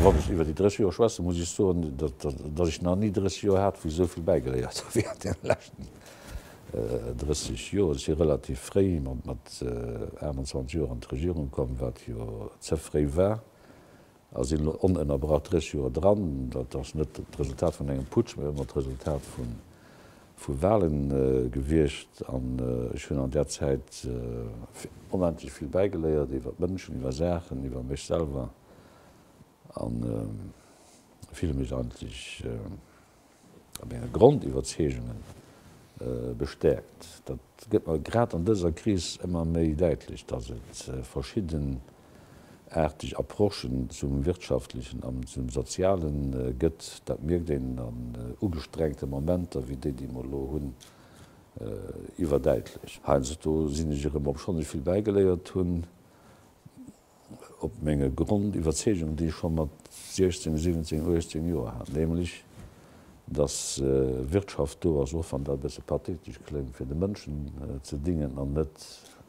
Wann ech iwwer déi 30 Joer schwätzen, muss ech soen, datt ech nach ni 30 Joer hat, wou ech esou vill bäigeléiert hu wéi an deene leschten 30 Joer. Ech si relativ fréi, mat 28 Joer, an d'Regierung komm, wat jo ze fréi war. a sinn elo onënnerbrach 30 Joer dran, dat ass net d'Resultat vun engem Putsch, mä ëmmer d'Resultat vu Walen gewiescht. An ech hunn an där Zäit onendlech vill bäigeléiert iwwer d'Mënschen, iwwer Saachen, iwwer mech selwer a fille mech eigentlech, a menge Grondiwwerzeegungen bestäerkt. Dat gëtt mer grad an dëser Kris ëmmer méi däitlech, dass et verschiddenaarteg Approchen zum Wirtschaftlechen an zum Soziale gëtt. Dat mierkt een an ugestrengte Momenter wéi déi, déi mer elo hunn, iwwerdäitlech. Heiansdo sinn ech erëm, obschonn ech vill bäigeléiert hunn, op menge Grondiwwerzeegung, déi ech scho mat 16, 17, 18 Joer hat, nämlech dass Wirtschaft do ass, och wann dat e bësse pathetesch kléngt, fir de Mënschen ze dingen an net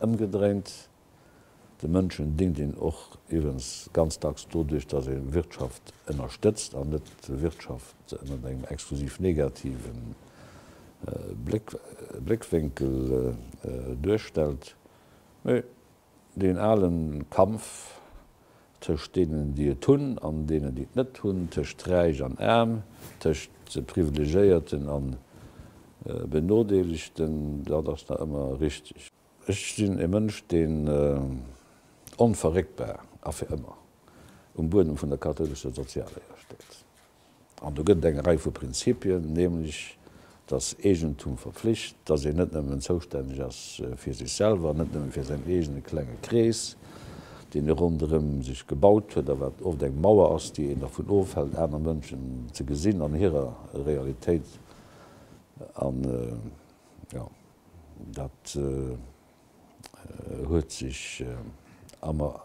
ëmgedréint. De Mënschen dingt een och iwwens ganz dacks doduerch, dass ee Wirtschaft ënnerstëtzt an net Wirtschaft ënnert engem exklusiv negativen Bléckwénkel duerstellt. Deen alen Kampf tëscht deenen, déi et hunn, an deenen, déi et net hunn, tëscht Räich an Aarm, tëscht Privilegéierten a Benodeelegten, dat ass nach ëmmer richteg. Ech sinn e Mënsch, deen onverréckbar a fir ëmmer um Buedem vun der kathoulescher Sozialléier steet. An do gëtt et eng Rei vu Prinzipien, nämlech dass Eegentum verpflicht, dass een net nëmmen zoustänneg ass fir sech selwer, net nëmmen fir säin eegene klenge Krees, deen e ronderëm sech gebaut huet a wat oft eng Mauer ass, déi een dervun ofhält, aner Mënschen ze gesinn an hirer Realitéit. An jo, dat. huet sech ëmmer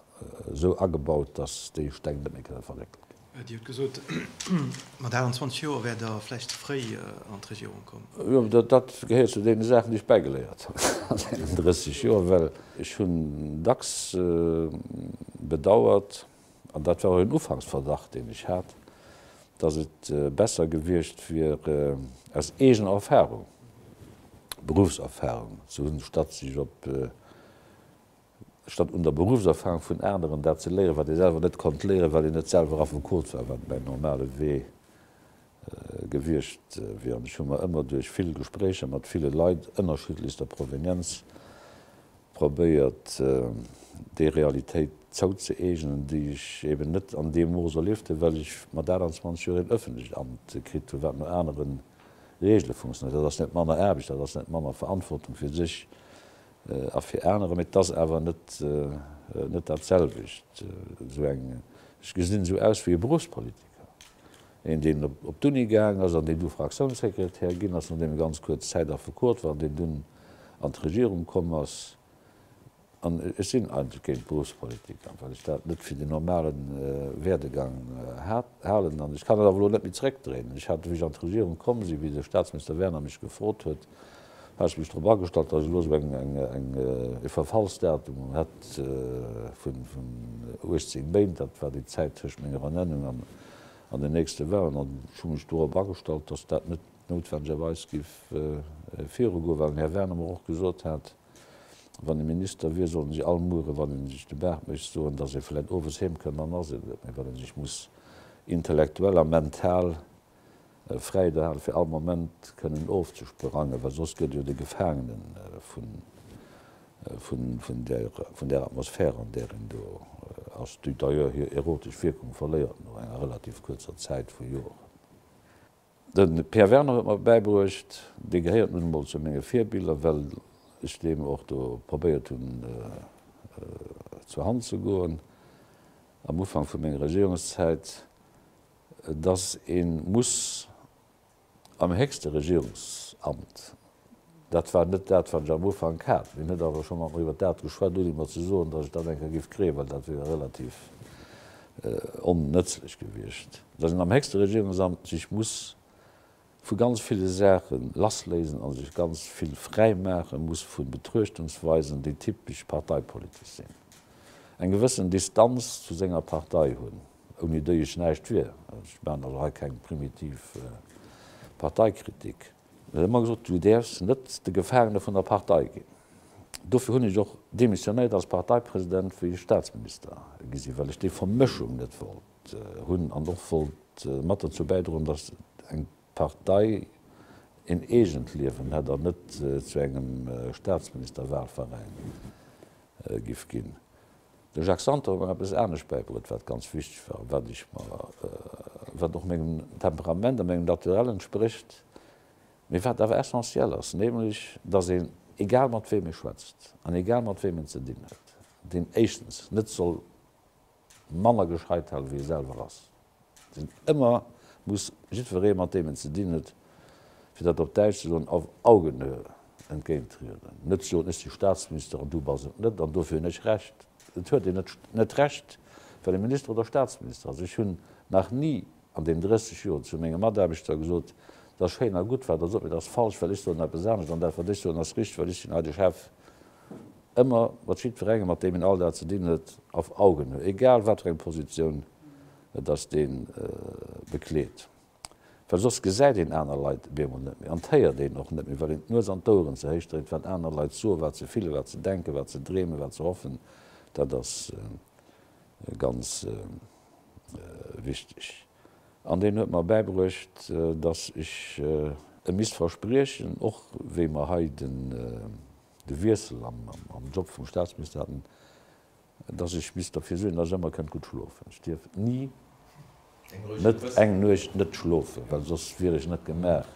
esou agebaut, datt déi Steng net méi kënne verréckelt ginn. Dir hutt gesot, mat 28 Joer wäert Der vläicht ze fréi an d'Regierung kommen. Jo, dat gehéiert zu deene Saachen, déi ech bäigeléiert hunn an deenen 30 Joer, well ech hunn dacks bedauert, an dat war och en Ufanksverdacht, deen ech hat, datt et besser gewiescht wier, aus eegener Erfahrung, Beruffserfahrung ze hunn, statt sech op, statt un der Beruffserfahrung vun aneren dat ze léieren, wat ee selwer net konnt léieren, well een net selwer Affekot war, wat mäin normale Wee Gewiescht wier. An ech hu mer ëmmer duerch vill Gespréicher mat ville Leit ënnerschiddlechster Provenienz probéiert, déi Realitéit zouzeeegnen, déi ech eben net an deem Mooss erliefte, well ech mat 28 Joer een ëffentlecht Amt kritt hu wat no anere Regele funktionéiert. Dat ass net manner Aarbecht, dat ass net manner Verantwortung fir sech a fir anerer, mee et ass awer net dat selwecht. Esou eng, ech gesinn esou aus wéi e Beruffspolitiker, Een deen op d'Uni gaang ass an deen du Fraktiounssekretär ginn ass, nodeem e ganz kuerz Zäit Affekot war an deen dunn an d'Regierung komm ass. An ech sinn eigentlech géint d'Beruffspolitik, well ech dat net fir den normale Werdegang halen. An ech kann et awer elo net méi zréckdréinen. Ech hat, wéi ech an d'Regierung komm sinn, wéi de Staatsminister Werner mech gefrot huet, hat ech mech drop agestallt, datt ech elo esou eng e Verfallsdatum hätt vun 18 Méint, dat war déi Zäit tëscht menger Ernennung an an den nächste Wahlen. An ech hu mech dorop agestallt, dass dat net noutwendegerweis géif virugoen, well den Här Werner mer och gesot hat, wann e Minister wier, sollte si all Muere, wann e sech de Baart mécht, soen, dass e vläicht owes heemkënnt. Dann ass een et net méi, well e sech muss intellektuell a mental, e Freide hat fir all Moment kënnen ofzesperangen, well soss gëtt jo de Gefaangenen vun där Atmosphär an där een do ass, déi d'ailleurs hir erotesch Wierkung verléiert no enger relativ kuerzer Zäit vu Joren. De Pierre Werner huet mer bäibruecht, dee gehéiert nun emol zu menge Virbiller, well ech deem och do probéiert hunn zur Hand ze goen am Ufank vu menger Regierungszäit, dass ee muss am héchste Regierungsamt, dat war net dat, wat ech am Ufank hat, mir hunn net awer schonn och iwwert dat geschwat, un iwwer ze soen, dass ech dat eng Kéier géif kréien, well dat wier relativ onnëtzlech gewiescht, dass een am héchste Regierungsamt sech muss Vu ganz ville Saache lassléisen a sech ganz vill fräi maache muss vu Betruechtungsweisen, déi typesch parteipolitesch sinn. Eng gewëssen Distanz zu senger Partei hunn, ouni déi ech näischt wier. Ech maachen also hei keng primitiv Parteikritik. Ech hunn ëmmer gesot, du däerfs net de Gefaangene vun der Partei ginn. Dofir hunn ech och demissionéiert als Parteipresident, wéi ech Staatsminister gi sinn, well ech déi Vermëschung net wollt. Hunn an och wollt mat derzou bäidroen, datt eng Partei een eegent Liewen hätt an net zu engem Staatsministerwahlveräin giff ginn. De Jacques Santer huet mer eppes anescht bäibruet, wat ganz wichteg war a wat ech mer, wat och mengem Temperament a mengem Naturell entsprécht, mee wat awer essentiel ass, nämlech datt een, egal mat wem ee schwätzt an egal mat wem een ze dinn huet, deen éischtens net soll, manner gescheit halen, wéi e selwer ass, deen ëmmer muss jiddweree, mat deem en ze dinn huet, fir dat op Däitsch ze soen, auf Augenhöhe entgéintrieden. Net soen, ech si Staatsminister an du bass et net an dofir hunn ech Recht. Dat huet een net Recht, well ee Minister oder Staatsminister ass. Ech hunn nach ni an deem 30 Joer zu menge Mataarbechter gesot, Et ass schéin a gutt, wat Der sot, mee dat ass falsch, well ech soen eppes anescht, an dat, wat ech soen, ass richteg, well ech sinn hei de Chef. Ëmmer mat jiddwerengem, mat deem een all Dag ze dinn huet, auf Augenhöhe, egal wat fir eng Positioun et ass, dee bekleet, well soss gesäit een aner Leit op eemol net méi an et héiert een och net méi, well een d'Nues an d'Oueren ze héich dréit, wat aner Leit soen, wat se fillen, wat se denken, wat se dreemen, wat se hoffen. Dat ass ganz wichteg an deen huet mer bäibruecht, dass ech em misst verspriechen, och wéi mer hei de Wiessel am Job vum Staatsminister haten, dass ech misst derfir suergen, dass ech ëmmer kënnt gutt schlofen. Ech dierf ni net eng Nuecht net schlofen, well soss wier ech net gemaach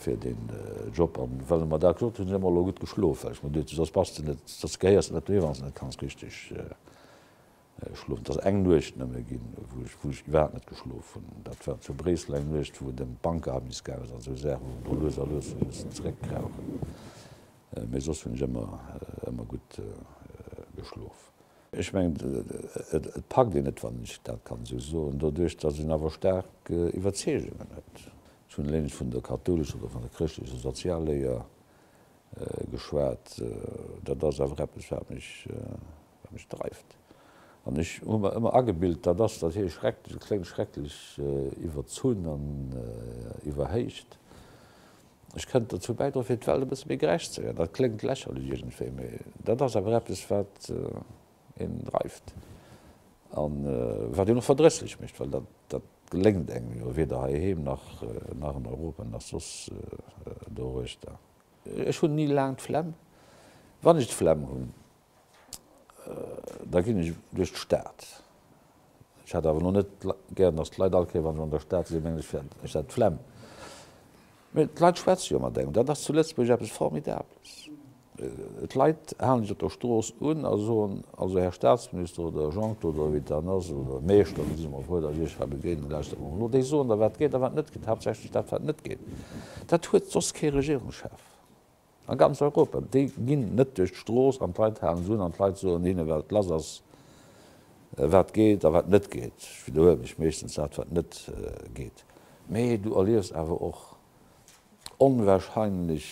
fir deen Job. An well e mer dat gesot huet, hunn ech ëmmer elo gutt geschlof, well ech mer duet hunn, soss bass de net, soss gehéiers de net doheem, wann s de net kanns richteg Ech schlofen, et ass eng Nuecht nëmme ginn, wou ech wou ech iwwerhaapt net geschlof hunn. Dat war zu Bréissel eng Nuecht, wou et ëm d'Bankavis gaang ass an esou Saachen, wou mer do lues a lues e bëssen zeréckkrauchen. Mee soss hunn ech ëmmer, ëmmer gutt geschlof. Ech mengen, et packt een et, wann ech dat kann esou soen, doduerch datt een awer staark Iwwerzeegungen huet. Ech hunn eleng vun der kathoulescher oder vun der chrëschtlecher Sozialléier geschwat. Dat ass awer eppes, wat mech. Wat mech dreift, an ech hu mer ëmmer agebilt, dat ass, datt hie schrecklech kléngt, schrecklech iwwerzunn an iwwerhéicht. Ech kënnt dozou bäidroen, fir d'Welt e bësse méi gerecht ze maachen. Dat kléngt lächerlech iergendwéi, mee dat ass awer eppes, wat een dreift a wat een och verdrësslech mécht, well dat geléngt engem jo weder heiheem nach an Europa nach soss doruechter. Ech hunn ni laang d'Flemm, wann ech d'Flemm hunn. Da ginn ech duerch d'Stad. Ech hat awer elo net gär, datt d'Leit all Kéier, wa se an der Stad sinn, mengen, ech wär dat flemm. Mee d'Leit schwätze jo mat engem. Dat ass zu Lëtzebuerg eppes Formidabeles. D'Leit halen dech op der Strooss un a soen, Also, Här Statsminister oder Jean-Claude oder wéi et dann ass, oder Meeschter, mir si mol frou, datt ech Iech hei begéinen, lauschtert mol elo. Déi soen der, wat geet a wat net geet, haaptsächlech dat, wat net geet. Dat huet soss kee Regierungschef. A ganz Europa. Déi ginn net duerch d'Strooss an d'Leit halen se un an d'Leit soen hinne wat lass ass, wat geet a wat net geet. Ech widderhuele mech, meeschtens dat wat net geet. Mee du erliefs awer och onwahrscheinlech,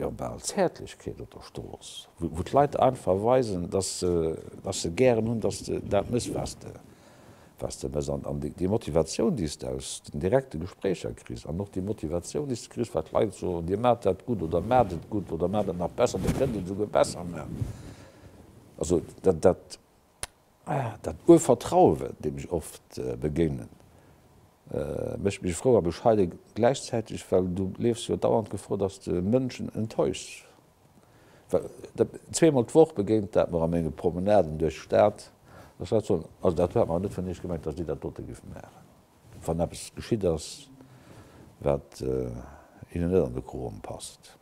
jo bal Zäertlechkeet op der Strooss, wou d'Leit einfach weisen, dass se gären hunn, dass de dat mes, was de was de mes an an déi Motivatioun, déi s de aus den direkte Gespréicher kriss an och déi Motivatioun, déi s de kriss, wat d'Leit soen, Dir maacht dat gutt oder maacht et gutt oder maacht et nach besser, Dir kënnt et esouguer besser maachen. Also dat, dat, dat Urvertrauen, deem ech oft begéinen, mécht mech frou a bescheiden gläichzäiteg, well du leefs jo dauernd Gefor, dass de Mënschen enttäuschs. Zwee mol d'Woch begéint dat mer a menge Promenaden duerch d'Stad. Ech hat soen, also dat huet mer net vun Iech gemengt, datt Dir dat dote giff maachen, wann eppes geschitt ass, wat hinnen net an de Kroen passt.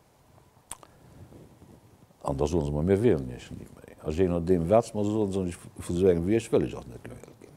An da soe se mer, mir wéilen Iech ni méi. A jé nodeem, wat se mer soen, soen ech, vu sou engem wéi Iech wëll ech och net luewe ginn.